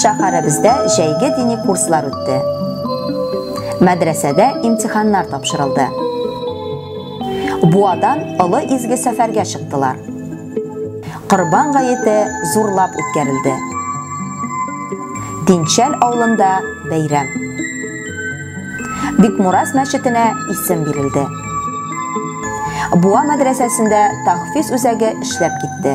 Шәһәребездә җәйге дини курслар үтте. Мәдрәсәдә имтиханнар тапшырылды. Буадан олы изге сәфәргә чыктылар. Корбан гаете зурлап үткәрелде. Динчәл авылында бәйрәм. Бикмураз мәчетенә исем бирелде. Буа мәдрәсәсендә тахфиз үзәге эшләп китте.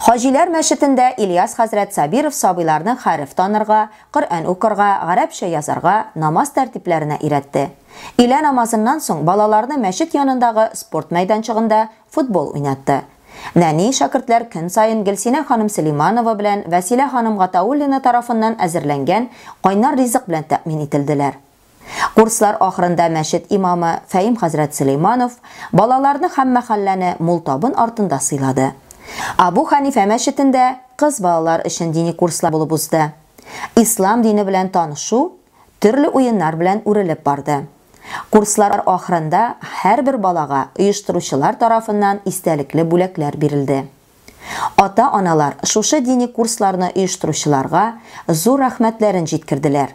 Хаҗиләр мәчетендә Ильяс хәзрәт Сабиров сабыйларны хәреф танырга, Коръән укырга, гарәпчә язарга, намаз тәртипләренә өйрәтте. Өйлә намазыннан соң балаларны мәчет янындагы спорт мәйданчыгында футбол уйнатты. Нәни шәкертләр көн саен Гөлсинә ханым Сөлиманова белән Вәсилә ханым Гатауллина тарафыннан әзерләнгән кайнар ризык белән тәэмин ителделәр. Курслар ахырында мәчет имамы Фәим хәзрәт Сөләйманов балаларны һәм мәхәлләне мул табын артында сыйлады. Абу Хәнифә мәчетендә кыз балалар өчен дини курслар булып узды. Ислам дине белән танышу төрле уеннар белән үрелеп барды. Курслар ахырында һәрбер балага оештыручылар тарафыннан истәлекле бүләкләр бирелде. Ата-аналар шушы дини курсларны оештыручыларга зур рәхмәтләрен җиткерделәр.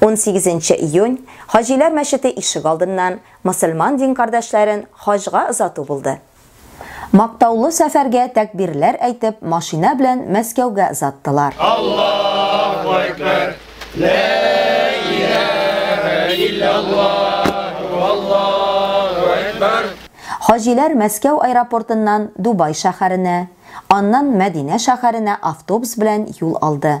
18 нче июнь Хаҗиләр мәчете ишек алдыннан мөселман дин кардәшләрен хаҗга озату булды. Мактаулы сәфәргә тәкбирләр әйтеп машина белән Мәскәүгә озаттылар. Аллаһу әкбәр! Лә иләһә илляллаһу Аллаһу әкбәр! Хаҗиләр Мәскәү аэропортыннан Дубай шәһәренә, аннан Мәдинә шәһәренә автобус белән юл алды.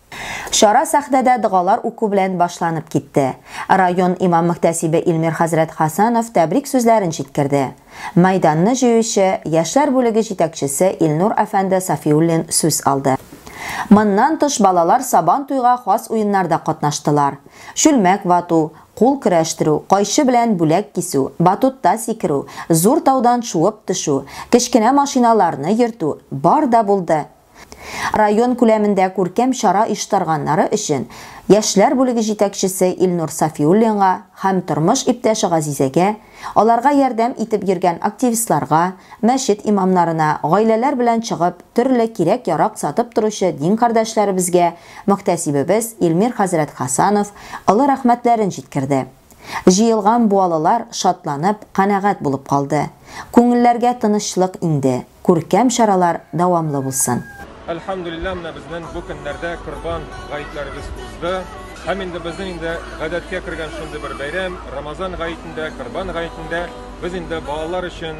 Чара сәхнәдә догалар уку белән башланып китте. Район имам-мөхтәсибе Илмир хәзрәт Хасанов тәбрик сүзләрен җиткерде. Мәйданны җыючы, яшьләр бүлеге җитәкчесе Илнур әфәнде Сафиуллин сүз алды. Моннан тыш балалар Сабан туйга хас уеннарда катнаштылар. Чүлмәк вату, кул көрәштерү, кайчы белән бүләк кисү, батутта сикерү, зур таудан шуып төшү, кечкенә машиналарны йөртү, бар да булды. Район күләмендә күркәм чара оештырганнары өчен яшьләр бүлеге җитәкчесе Илнур Сафиуллинга һәм тормыш иптәше Газизәгә, аларга ярдәм итеп йөргән активистларга, мәчет имамнарына, гаиләләр белән чыгып, төрле кирәк-ярак сатып торучы дин кардәшләребезгә мөхтәсибебез Илмир хәзрәт Хәсанов олы рәхмәтләрен җиткерде. Җыелган буалылар шатланып, канәгать булып калды. Күңелләргә тынычлык иңде. Күркәм чаралар дәвамлы булсын! Әлхәмдүлилләһ, менә безнең бу көннәрдә корбан гаетләребез узды. Һәм инде безнең инде гадәткә кергән шундый бер бәйрәм, Рамазан гаетендә, корбан гаетендә без инде балалар өчен,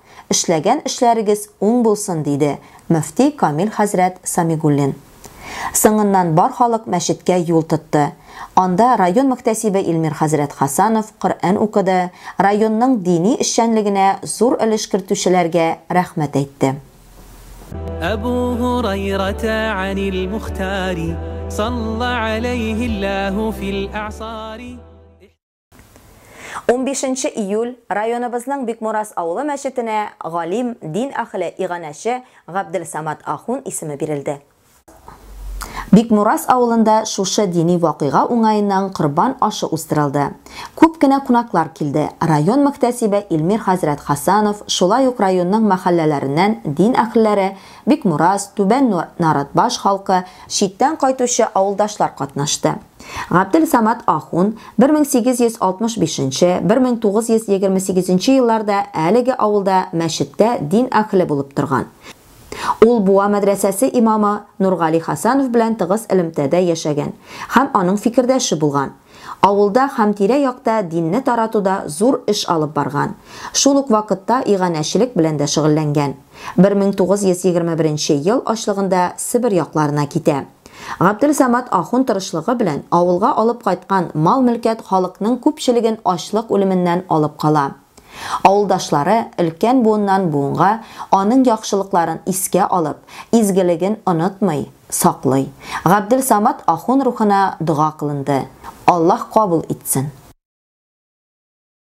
Эшләгән эшләрегез уң булсын, диде мөфти Камил хәзрәт Самигуллин. Соңыннан бар халык мәчеткә юл тотты. Анда район мөхтәсибе Илмир хәзрәт Хасанов Коръән укыды, районның дини эшчәнлегенә зур өлеш кертүчеләргә рәхмәт әйтте. Әбу Һурайрата Анил Мухтари салла аләйһи Аллаһу фил әгъсари. Унбишенче июль районыбызның Бикмурас авылы мәчетенә галим, дин әхеле, иганәче Габделсамат ахун исеме бирелде. Бикмурас авылында шушы дини вакыйга уңаеннан корбан ашы уздырылды. Күп кенә кунаклар килде, район мөхтәсибе Илмир хәзрәт Хәсанов, шулай ук районның мәхәлләләреннән дин әхелләре, Бикмурас, Түбән Наратбаш халкы, читтән кайтучы авылдашлар катнашты. Габделсамат ахун 1865-1928 елларда әлеге авылда мәчеттә дин әһеле булып торган. Ул Буа мәдрәсәсе имамы Нургали Хәсәнов белән тыгыз элемтәдә яшәгән һәм аның фикердәше булган. Авылда һәм тирә-якта динне таратуда зур эш алып барган, шул ук вакытта иганәчелек белән дә шөгыльләнгән. 1921 ел ачлыгында Себер якларына китә. Габделсамат ахун тырышлыгы белән авылга алып кайткан мал-мөлкәт халыкның күпчелеген ачлык үлеменнән алып кала. Авылдашлары, өлкән буыннан буынга аның яхшылыкларын искә алып, изгелеген онытмый, саклый. Габделсамат ахун рухына дога кылынды. Аллаһ кабул итсен.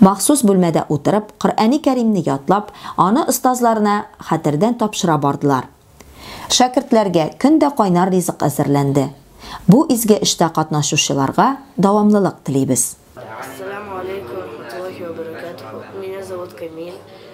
Махсус бүлмәдә утырып, Коръәни Кәримне ятлап, аны остазларына хәтердән тапшыра бардылар. Шәкертләргә көн дә кайнар ризык әзерләнде. Бу изге эштә катнашучыларга дәвамлылык телибез. Ассаламу алейкум вә рахматуллахи вә бәрәкәтүһү. Меня зовут Камиль.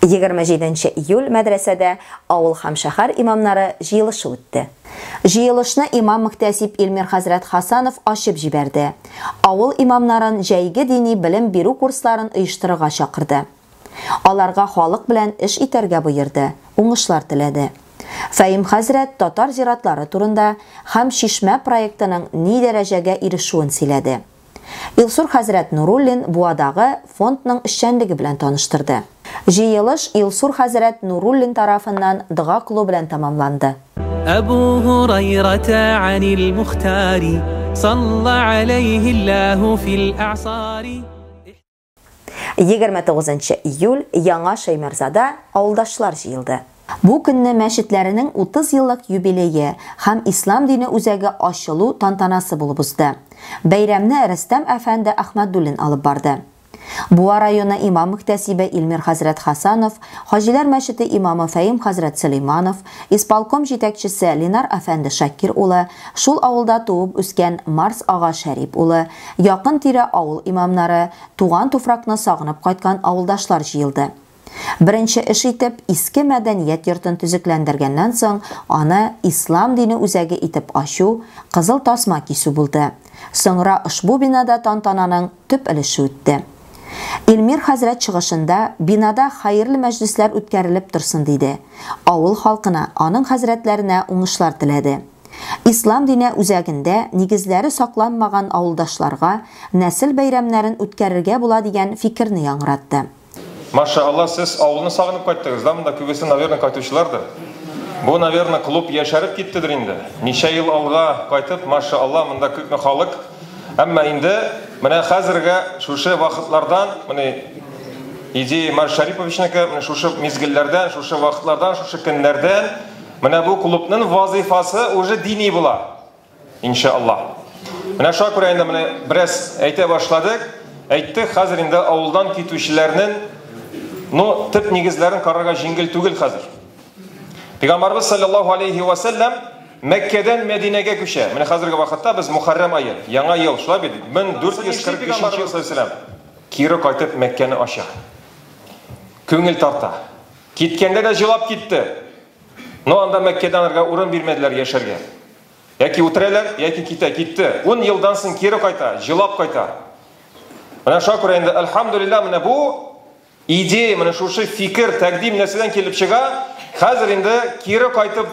27 нче июль мәдрәсәдә авыл һәм шәһәр имамнары җыелышы үтте. Җыелышны имам-мөхтәсиб Илмир хәзрәт Хасанов ачып җибәрде. Авыл имамнарын җәйге дини белем бирү курсларын оештырырга чакырды. Аларга халык белән эш итәргә боерды, уңышлар теләде. Фәим хәзрәт татар зиратлары турында һәм Чишмә проектының ни дәрәҗәгә ирешүен сөйләде. Илсур хәзрәт Нуруллин Буадагы фондның эшчәнлеге белән таныштырды. Җыелыш Илсур хәзрәт Нуруллин тарафыннан дога кылу белән тәмамланды. Әбу Һурайрата анил Мухтари, салла аләйһи Аллаһу фил әгъсари. 29 нчы июль Яңа Шәймәрзада авылдашлар җыелды. Бу көнне мәчетләренең 30 еллык юбилее һәм Ислам дине үзәге ачылу тантанасы булып узды. Бәйрәмне Рөстәм әфәнде Әхмәдуллин алып барды. Буа районы имам-мөхтәсибе Илмир хәзрәт Хәсанов, Хаҗиләр мәчете имамы Фәим хәзрәт Сөләйманов, Исполком җитәкчесе Ленар әфәнде Шакир улы, шул авылда туып үскән Марс ага Шәрип улы, якын-тирә авыл имамнары, туган туфракны сагынып кайткан авылдашлар җыелды. Беренче эш итеп, иске мәдәният йортын төзекләндергәннән соң, аны Ислам дине үзәге итеп ачу, кызыл тасма кисү булды. Соңра ошбу бинада тантананың төп өлеше үтте. Илмир хәзрәт чыгышында бинада хәерле мәҗлесләр үткәрелеп торсын диде. Авыл халкына, аның хәзрәтләренә уңышлар теләде. Ислам дине үзәгендә нигезләре сакланмаган авылдашларга нәсел бәйрәмнәрен үткәрергә була дигән фикерне яңгыратты. Ма ша Алла сез авылны сагынып кайттыгыз да монда күбесе наверно кайтучылардыр Бу наверно клуб яшәреп киттедер инде Ничә ел алга кайтып ма ша Алла монда күпме халык Әмма инде менә хәзерге шушы вакытлардан, менә Идея Марш Шариповичныкы, менә шушы мизгелләрдән, шушы вакытлардан, шушы көннәрдән менә бу клубның вазыйфасы уже дини була. Иншаллаһ. Менә шуңа күрә инде менә бераз әйтә башладык. Әйттек, хәзер инде авылдан китүчеләрнең ну, төп нигезләрен карарга җиңел түгел хәзер. Пәйгамбарыбыз саллаллаһу алейхи ва саллям Мәккәдән Мәдинәгә күчә. Менә хәзерге вакытта без Мухаррам ае, яңа ел, шулай бит? 1445 ел сәләм. Кире кайтып Мәккәне ача. Күңел тарта. Киткәндә дә җылап китте. Но анда Мәккәдән арга урын бирмәделәр яшәргә. Яки үтерәләр, яки китә, китте. 10 елдан соң кире кайта, җылап кайта. Менә шуңа күрә инде, альхамдулилла, менә бу Идея, менә шушы фикер, тәкъдим нәрсәдән килеп чыга? Хәзер инде кире кайтып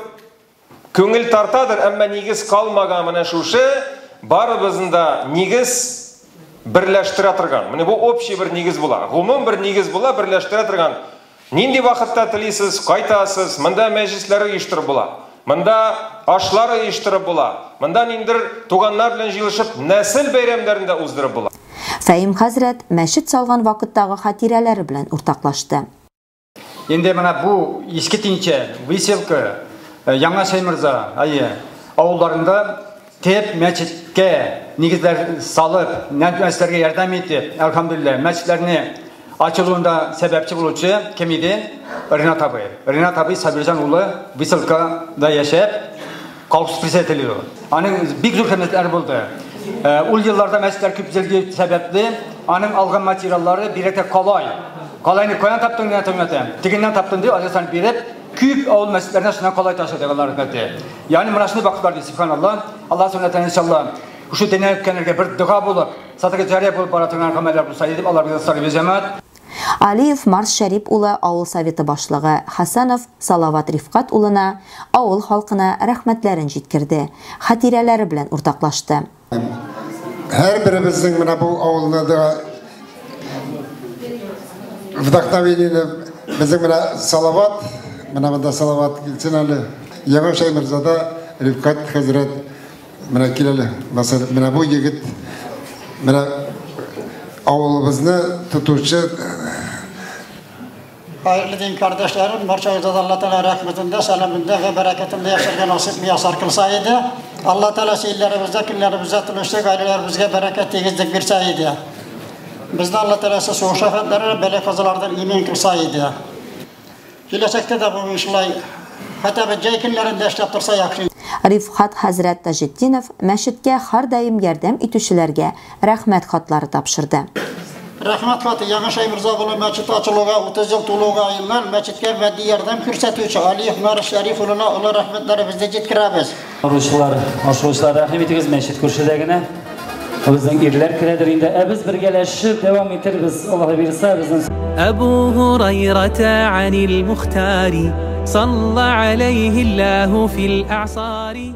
күңел тартадыр, әмма нигез калмаган менә шушы барыбызны да нигез берләштерә торган. Менә бу общий бер нигез була. Гомум бер нигез була, берләштерә торган. Нинди вакытта телисез, кайтасыз, монда мәҗлесләр оештырып була. Монда ашлар оештырып була. Монда ниндидер туганнар белән җыелышып нәсел бәйрәмнәрен дә уздырып була. Фәһим хәзрәт мәчет салган вакыттагы хатирәләре белән уртаклашты. Инде менә бу Иске Тинчә, Выселка, Яңа Шәйморза, әйе, авылларында Теп мәчеткә нигезләр салып, нәрсәләргә ярдәм итеп, әлхәмдүлилләһ, мәчетләрне ачылуында сәбәпче булучы кем иде? Ренат абый. Ренат абый Сабирҗан улы Выселкада яшәп, колхоз председателе иде ул. Аның бик зур хезмәтләре булды. Э, ул елларда мәчетләр күп төзелгән сәбәпле, аның алган материаллары бигрәк тә калай. Калайны каян таптың, нигә таптың? Тегеннән таптым дип, адресны биреп, Күп авыл мәчетләренә шуннан калай ташыдык Аллаһ рәхмәте. Ягъни менә шундый вакытлар ди, субханаллаһ. Аллаһ сөннәтен иншаллаһ. Шушы дөньяны үткәннәргә бер дога булып, садыка җария булып бара торган гамәлләр булса иде дип Аллабыздан сорыйбыз, җәмәгать. Алиев Марс Шәрип улы авыл Советы башлыгы Хәсәнов Салават Рифкать улына, авыл халкына рәхмәтләрен җиткерде, хатирәләре белән уртаклашты. Һәрберебезнең менә бу авылны да вдохновениене безнең менә Салават, менә монда Салават килсен әле. Яңа Шәймирзада Рифкат хәзрәт менә кил әле. Менә бу егет менә авылыбызны тотучы Хәерле дин кардәшләрем, барчагызга да Алла Тәгалә рәхмәтендә, сәламендә һәм бәрәкәтендә яшәргә насыйп миясар кылса иде. Алла Тәгалә сәйләребездә, көннәребездә тынычлык, гаиләләребезгә бәрәкәт, тигезлек бирсә иде. Безне Алла Тәгалә сугыш афәтләреннән, бәла казалардан имин кылса иде. Киләчәктә дә бу шулай хәтта бер җәй көннәрендә эшләп торса яхшы. Рифхат хәзрәт Таҗетдинов мәчеткә һәрдаим ярдәм итүчеләргә Рәхмәт хатлары тапшырды. Рәхмәт хаты Яңа Шәйморза авылы мәчете ачылуга 30 ел тулуга аерылган мәчеткә матди ярдәм күрсәтүче Алиев Марис Шәриф улына олы рәхмәтләребезне җиткерәбез. Торучылар, ашыгучылар, рәхим итегез, мәчет күршедә генә. Безнең ирләр керәдер инде, ә без бергәләшеп дәвам итербез, Аллаһы бирса, безнең. Әбу Һурайрата анил Мухтари, салла алейһи Аллаһу фил әгъсари.